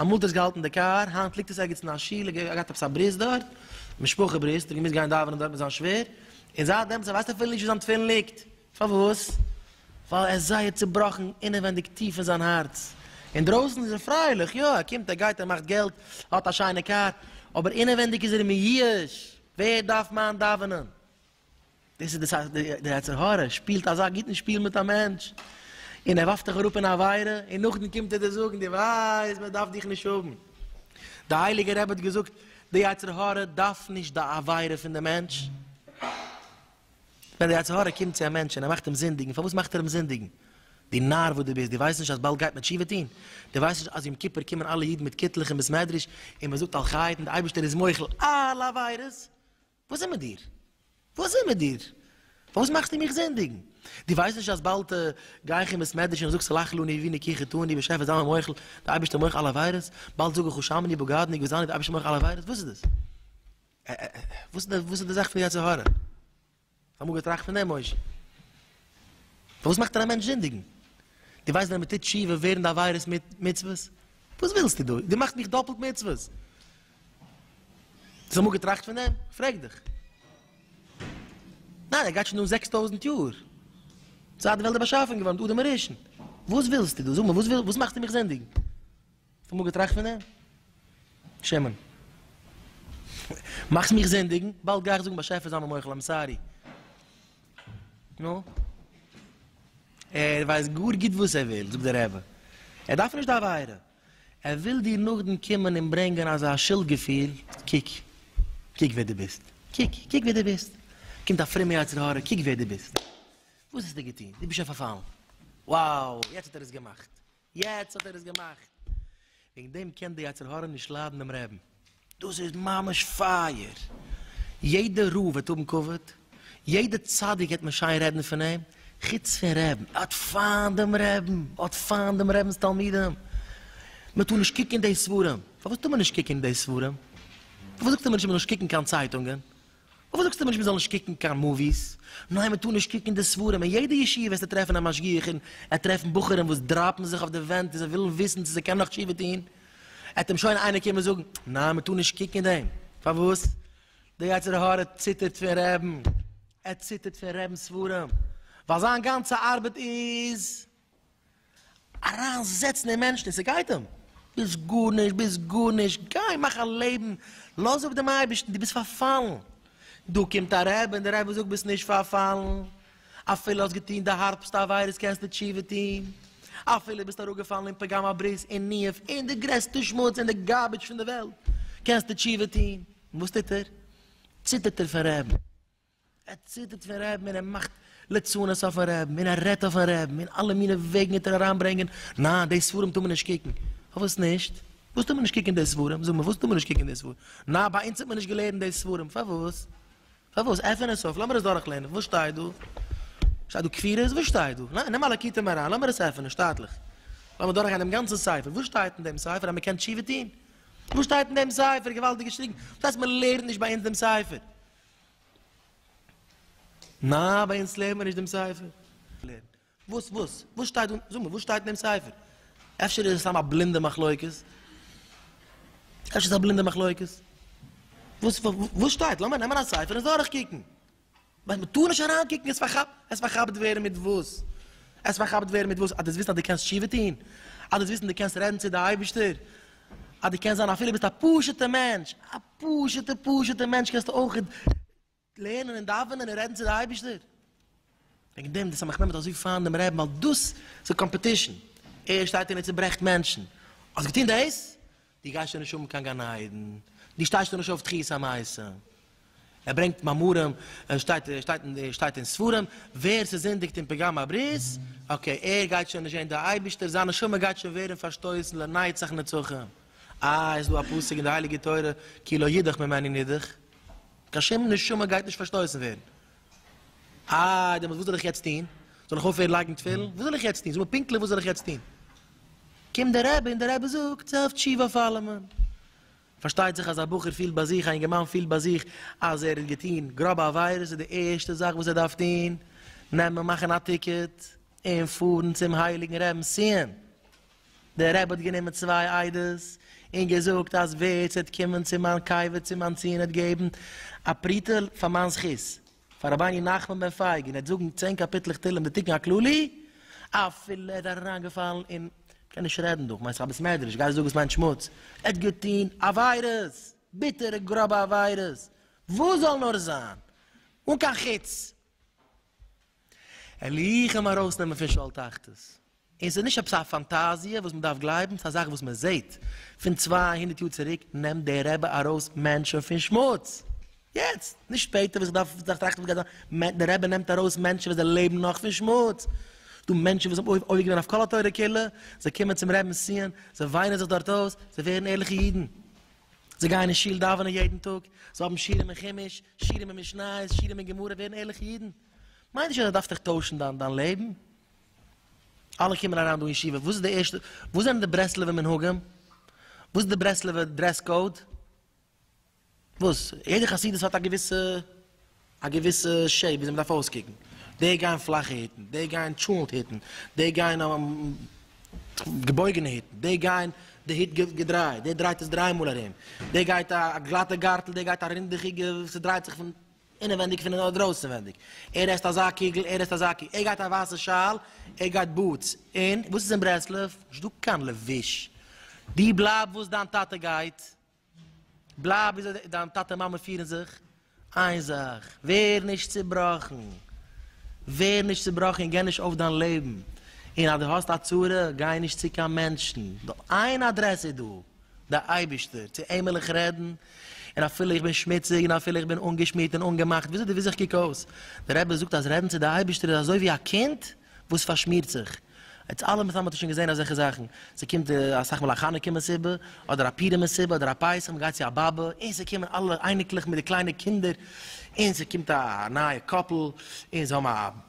אמאל האט עס געהאלטן די קאר, היינט ליגט עס ערגעץ אין א שול, ער האט געהאט עפעס א ברית דארט, משפחה ברית, האט ער געמוזט גיין דאווענען דארט מיט זיין שווער, און זייט דעמאלטס ווייסט ער אפילו נישט ווי זיין תפילין ליגט, פארוואס? ווייל ער איז זייער צובראכן אינעווענדיג טיף אין זיין הארץ, אינדרויסן איז ער פרייליך, יא ער קומט ער גייט ער מאכט געלט, ער האט א שיינע קאר, אבער אינעווענדיג איז ער מיואש, ווער דארף מיין דאווענען? דאס איז די יצר הרע שפילט אזא גוטן שפיל מיט א מענטש און ער ווארפט דיך אראפ אין עבירה און נאכדעם קומט ער דיר זאגן דו ווייסט מען דארף דיך נישט האבן, די הייליגע רבי האט געזאגט די יצר הרע דארף נישט די עבירה פון די מענטש, ווען די יצר הרע קומט צו א מענטש און ער מאכט אים זינדיגן פארוואס מאכט ער אים זינדיגן? דו נאר וואס דו ביסט דו ווייסט נישט אז באלד גייט מען תשובה טון? דו ווייסט נישט אז יום כיפור קומען אלע אידן מיט קיטלעך אין בית מדרש און מען זאגט על חטא און די אייבערשטער איז מוחל אלע עבירות וואס איז מיט דיר? וואס איז מיט דיר? פארוואס מאכסטו מיך זינדיגן? דו ווייסט נישט אז באלד גיי איך אין בית מדרש און איך זאג סלח לי נעבי נקי חטאני באשעפער זיי מיר מוחל, די אייבערשטער מוחל אלע עבירות, באלד זאג איך הושעמני בגדני גזלני די אייבערשטער מוחל אלע עבירות, וואס איז דאס? וואס איז די זאך פון די יצר הרע? אמאל געטראכט פון דעם משה. פארוואס מאכט מען א מענטש זינדיגן? דו ווייסט ווען מען טוט תשובה ווערן די עבירות מיט מצוות? וואס ווילסטו דא? דו מאכסט מיך דאפלט מצוות! האסט אמאל געטראכט פון דעם? כ'פרעג דיך. ניין, ער גייט שוין אן זעקס טויזנט יאר, זייט די וועלט איז באשאפן געווארן, מיט אדם הראשון. וואס ווילסטו דא? זאג מיר, וואס וויל, וואס מאכסטו מיך זינדיגן? אמאל געטראכט פון דעם? שמן. מאכסט מיך זינדיגן, באלד גיי איך זאגן באשעפער זיי מיר מוחל איים סארי. נו? ער ווייסט גאר גוט וואס ער וויל, זאגט דער רבי. ער דארף נישט די עבירה. ער וויל דיר נאכדעם קומען און ברענגען אזא שולד געפיל, קוק, קוק ווער דו ביסט. קוק, קוק ווער דו ביסט. קומט א פרומע יצר הרע, קוק ווער דו ביסט. וואס האסטו געטון? דו ביסט שוין פארפאלן. וואו! יעצט האט ער עס געמאכט. יעצט האט ער עס געמאכט. וועגן דעם קען די יצר הרע נישט ליידן דעם רעבין. דאס איז ממש פייער! יעדע רב וועט האבן כבוד, יעדע צדיק וועט מען שיין רעדן פון אים, חוץ פון רעבין, ער האט פיינט דעם רעבין, ער האט פיינט דעם רעבין'ס תלמידים, מען טאר נישט קוקן די ספרים, פארוואס טאר מען נישט קוקן די ספרים? פארוואס זאגט ער מיר נישט מען זאל נישט קוקן קיין צייטונגען? פארוואס זאגסטו מיר נישט מ'זאל נישט קוקן קיין מאוויס? ניין מ'טאר נישט קוקן די ספרים, אין יעדע ישיבה וועסטו טרעפן א משגיח און ער וועט טרעפן בחורים וואס דראפן זיך אויף די ווענט און זיי ווילן וויסן צו זיי קענען נאך תשובה טון, עט אים שוין איינער קומען זאגן, ניין מ'טאר נישט קוקן דעם, פארוואס? די יצר הרע ציטערט פון רעבן, ער ציטערט פון רעבן'ס ספרים, ווייל זיין גאנצע ארבעט איז. אריין זעצן אין מענטשן און ס'גייט אים, ביסט גארנישט, ביסט גארנישט, גיי מאך א לעבן, לאז אפ דעם אייבערשטן, דו ביסט פארפאלן, דא קומט א רבי און דער רבי זאגט ביסט נישט פארפאלן, אפילו האסט געטון די הארבסטע עבירות קענסטו תשובה טון, אפילו ביסט אראפגעפאלן אין פגם הברית אין ניאוף אין די גרעסטע שמוץ אין די גארביטש פון די וועלט קענסטו תשובה טון, וואס טוט ער? ציטערט ער פון רעדן. ער ציטערט פון רעבן און ער מאכט ליצנות אויפן רעבן און ער רעדט אויפן רעבן און אלע מינע וועגן וועט ער אריין ברענגען, ניין די ספרים טאר מען נישט קוקן, פארוואס נישט? וואס טאר מען נישט קוקן די ספרים? זאג מיר וואס טאר מען נישט קוקן די ספרים? ניין ביי אונז האט מען נישט געלערנט די ספרים, פארוואס? פארוואס? עפען עס אויף לאמיר עס דורך לערנען, וואס שטייט דא? שטייט דא כפירות? וואס שטייט דא? ניין נעם א לקוטי מוהרן לאמיר עס עפענען שטאטליך, לאמיר דורך גיין דעם גאנצן ספר, וואס שטייט אין דעם ספר אז מען קען תשובה טון? וואס שטייט אין דעם ספר? געוואלדיג געשריגן, וואס הייסט מען לערנט נישט ביי אונז דעם ספר? ניין ביי אונז לערנט מען נישט דעם ספר. וואס וואס וואס שטייט און זאג מיר וואס שטייט אין דעם ספר? אפשר איז עס סתם א בלינדע מחלוקת? אפשר איז עס א בלינדע מחלוקת? וואס וואס שטייט? לאמיר נעמען א ספר און דורך קוקן. ווייל מען טאר נישט אריין קוקן איז פארכאפט עס פארכאפט ווערן מיט וואס? עס פארכאפט ווערן מיט וואס? אז דו ווילסט אז דו קענסט תשובה טון? אז דו ווילסט אז דו קענסט רעדן צו די אייבערשטער? אז דו קענסט זיין אפילו ביסט א פשוט'ע מענטש, א פשוט'ע פשוט'ע מענטש קענסטו אויך לערנען און דאווענען און רעדן צו די אייבישטער. וועגן דעם די סמך נעמען אזוי פיין דעם רעבן ווייל דאס איז קאמפעטישן, ער שטייט און ער צוברעכט מענטשן, האסט געטון דאס? דו גייסט שוין נישט האבן קיין גן עדן, דו שטייסט שוין נישט אויף תחיית המתים. ער ברענגט מאמרים און שטייט שטייט שטייט אין ספרים ווער ס'זינדיגט אין פגם הברית אקעי ער גייט שוין נישט זען די אייבישטער זיין נשמה גייט שוין ווערן פארשטויסן לנצח נצחים אה איז דא א פסוק אין די הייליגע תורה כי לא ידח ממני נידח קיין שום נשמה גייט נישט פארשטויסן ווערן אה דעמאלטס וואס זאל איך יעצט טון זאל איך אויפהערן לייגן תפילין וואס זאל איך יעצט טון זאג מיר פונקטליך וואס זאל איך יעצט טון קומט דער רבי און דער רבי זאגט זיי אויף תשובה אויף אלעמען. פארשטייט זיך אז א בחור פילט ביי זיך, א אינגערמאן פילט ביי זיך אז ער האט געטון גראבע עבירות, איז די ערשטע זאך וואס ער דארף טון, נעמען מאכן א טיקעט און פארן צום הייליגן רעבן סיען. דער רבי האט גענומען צוויי עדות און געזאגט אז ווער ס'וועט קומען צו מיין קבר צום אנטציען און געבן א פרוטה פאר מיין זכות, פאר רבני נחמן בן פייג און ער וועט זאגן צען קאפיטלעך תהלים די תיקון הכללי אפילו ער איז אריינגעפאלן אין כ'קען נישט רעדן דא, כ'מיין ס'איז א בית מדרש, גייסט זאגן ס'מיינט שמוץ? ער האט געטון עבירות! ביטערע גראבע עבירות! וואס זאל נאר זיין! אן קיין חוץ! ער ליכען ארויסנעמען פון שאול תחתית! און ס'איז נישט עפעס א פאנטאזיע וואס מ'דארף גלייבן, ס'איז א זאך וואס מ'זעהט פון צוויי הונדערט יאר צוריק, נעמט דער רבי ארויס מענטשען פון שמוץ, יעצט, נישט שפעטער וואס איך דארף טראכטן וואס גייט זיין, דער רבי נעמט ארויס מענטשען ווען זיי לעבן נאך פון שמוץ, ס'דא מענטשען וואס האבן עובר געווען אויף כל התורה כולה, זיי קומען צום רבינ'ס ציון, זיי וויינען זיך דארט אויס, זיי ווערן ערליכע אידן, זיי גייען אין שול דאווענען יעדן טאג, זיי האבן שיעורים אין חומש, שיעורים אין משניות, שיעורים אין גמרא, ווערן ערליכע אידן, מיין נישט אז דו דארפסט דיך טוישן דיין לעבן, אלע קומען אריין דא אין ישיבה, וואס איז די ערשטע, וואס זענען די ברסלב'ע מנהגים? וואס איז די ברסלב'ע דרעס קאוד? וואס? יעדע חסידות האט א געוויסע, א געוויסע שעיפ וויאזוי מ'דארף אויסקוקן. די גייען פלאכע היטן, די גייען טשולענט היטן, די גייען געבויגענע היטן, די גייען די היט געדרייט, דער דרייט עס דריי מאל ארום, דער גייט א גלאטע גארטל, דער גייט א רינדעכיגע וואס ס'דרייט זיך פון אינעווענדיג פון אדער אויסענווענדיג, ער עסט אזא קוגל, ער עסט אזא קו, ער גייט א ווייסע שאל, ער גייט בוטס, און וואס איז אין ברסלב? נישט דא קיין לבוש, דו בלייב וואס דיין טאטע גייט, בלייב ווי אזוי דיין טאטע און מאמע פירן זיך, איין זאך, ווער נישט צובראכן, ווער נישט צובראכן און גיב נישט אויף דיין לעבן, און אז דו האסט א צרה, גיי נישט צו קיין מענטשן, נאר איין אדרעס איז דא. דער אייבערשטער, צו אים וויל איך רעדן, און אפילו איך בין שמוציג, און אפילו איך בין אנגעשמירט און אנגעמאכט, וויאזוי די וויסט איך קוק אויס? דער רבי זאגט אז רעדן צו די אייבערשטער איז אזוי ווי א קינד וואס פארשמירט זיך, אונז אלע מיט זיין האט שוין געזען אזעלכע זאכן, ס'קומט אסאך מאל א חנוכה מסיבה, אדער א פורים מסיבה, אדער א פסח, מען גייט צו א באבע, און ס'קומען אלע אייניקלעך מיט די קליינע קינדער, און ס'קומט א נייע קאפל, און זיי האבן א.